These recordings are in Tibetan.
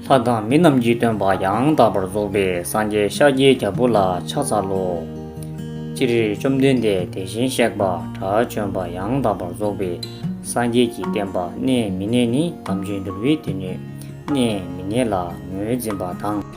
ལྷ་དང་མི་རྣམས་ཀྱི་སྟོན་པ་ཡང་དག་པར་རྫོགས་པའི་སངས་རྒྱས་ཤཱཀྱའི་རྒྱལ་པོ་ལ་ཕྱག་འཚལ་ལོ། ཅི་རིགས་བཅོམ་ལྡན་འདས་དེ་བཞིན་གཤེགས་པ་དགྲ་བཅོམ་པ་ཡང་དག་པར་རྫོགས་པའི་སངས་རྒྱས་ཀྱི་བསྟན་པ་གནས་མི་གནས་ནི་དམ་ཆོས་འདུལ་བའི་དུས་ནས་གནས་མི་གནས་ལ་ངོས་འཛིན་པ་དང།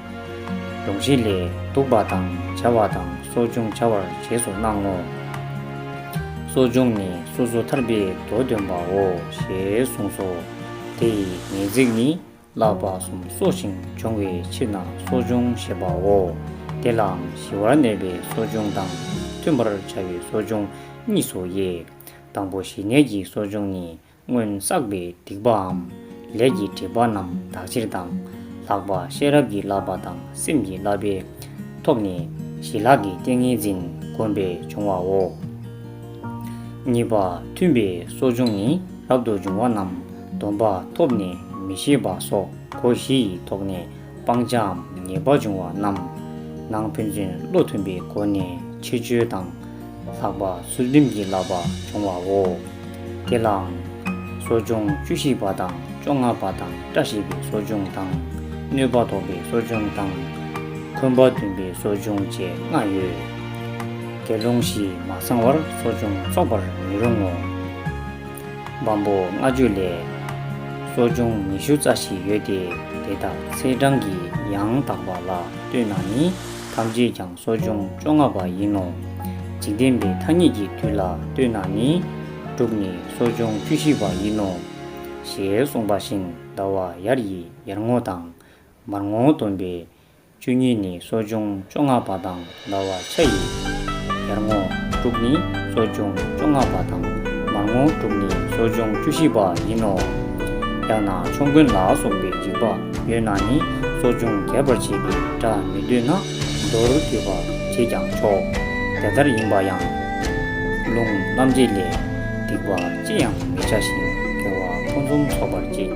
ལུགས་བཞི་ལས། བདུག་པ་དང་བྱ་བ་དང་གསོ་སྦྱོང་བྱ་བར་རྗེས་སུ་གནང་ངོ། གསོ་སྦྱོང་ནི་སོ་སོ་ཐར་པའི་མདོ་འདོན་པའོ་ཞེས་གསུངས་སོ། དེ་ཡི་ངེས་ཚིག་ནི་བསླབ་པ་གསུམ་གསོ་ཞིང་སྦྱོང་བའི་ཕྱིར་ན་གསོ་སྦྱོང་ཞེས་པའོ། དེ་ལའང་ཞི་བར་གནས་པའི་གསོ་སྦྱོང་དང་མཐུན་པར་བྱ་བའི་གསོ་སྦྱོང་གཉིས་སོ། དང་པོ་ཞི་གནས་ཀྱི་གསོ་སྦྱོང་ནི་སྔོན་བསགས་པའི་སྡིག་པའམ་ལས་ཀྱི་དྲེགས་པ་རྣམས་དག་ཕྱིར་དང། ལྷག་པ་ཤེས་རབ་ཀྱི་བསླབ་པ་དང་སེམས་ཀྱི་བསླབ་པས་ཐོབ་ནས་ཞི་ལྷག་གི་ཏིང་ངེ་འཛིན་བསྒོམས་པས་འབྱུང་བའོ། གཉིས་པ་མཐུན་པའི་གསོ་སྦྱོང་ནི་རབ་ཏུ་འབྱུང་བ་རྣམས་སྡོམ་པ་ཐོབ་ནས་མི་ཤེས་པ་སོགས་སྒོ་བཞི་ཡིས་དོགས་ནས། སྤང་བྱའམ་ངེས་པར་འབྱུང་བ་རྣམས། ནང་ཕན་ཚུན་བློ་མཐུན་པའི་སྒོ་ནས་ཕྱིར་བཅོས་དང། ལྷག་པར་ཚུལ་ཁྲིམས་ཀྱི་བསླབ་པ་འབྱུང་བའོ། དེ་ལའང། གསོ་སྦྱོང་བཅུ་བཞི་པ་དང་བཅོ་ལྔ་པ་དང་བཀྲ་ཤིས་པའི་གསོ་སྦྱོང་དང། གནོད་པ་དོག་པའི་གསོ་སྦྱོང་དང། འཁོན་པ་འདུན་པའི་གསོ་སྦྱོང་བཅས་ལྔ་ཡོད་དེ། ལུང་བཞི་མ་ཚང་བར་གསོ་སྦྱོང་འཚོགས་པར་མི་རུང་ངོ། བམ་པོ་ལྔ་བཅུ་ལས། གསོ་སྦྱོང་ཉི་ཤུ་རྩ་བཞི་ཡོད་དེ་དེ་དག་ཚེས་གྲངས་ཀྱི་ཡང་དག་པ་ལ་ལྟོས་ན་ནི་ཐམས་ཅད་ཀྱང་གསོ་སྦྱོང་བཅོ་ལྔ་པ་ཡིན་ནོ། འཇིག་རྟེན་པའི་ཐ་སྙད་ཀྱི་དུས་ལ་ལྟོས་ན་ནི་དྲུག་ནི་གསོ་སྦྱོང་བཅུ་བཞི་པ་ཡིན་ནོ། ཞེས་གསུངས་པ་བཞིན་ཟླ་བ་ཡར་ཡི་ཡར་ངོ་དང། མར་ངོ་སྟོན་པའི་བཅུ་གཉིས་ནི་གསོ་སྦྱོང་བཅོ་ལྔ་པ་དང་འདའ་བར་ཆ་ཡི། ཡར་ངོ་དྲུག་ནི་གསོ་སྦྱོང་བཅོ་ལྔ་པ་དང་མར་ངོ་དྲུག་ནི་གསོ་སྦྱོང་བཅུ་བཞི་པ་ཡིན་ནོ། ཡང་ན་ཕྱོགས་མགོན་ལ་སོགས་པའི་འཇིགས་པ་ཡོད་ན་ནི་གསོ་སྦྱོང་རྒྱས་པར་བྱེད་པའི་སྒྲ་མི་འདོད་ན་མདོར་བསྡུས་པར་བྱེད་ཀྱང་ཆོག་དེ་ལྟར་ཡིན་པ་ཡང། ལུང་རྣམ་འབྱེད་ལས། སྡིག་པ་ཅི་ཡང་མི་བྱ་ཞིང་དགེ་བ་ཕུན་སུམ་ཚོགས་པར་བྱེད།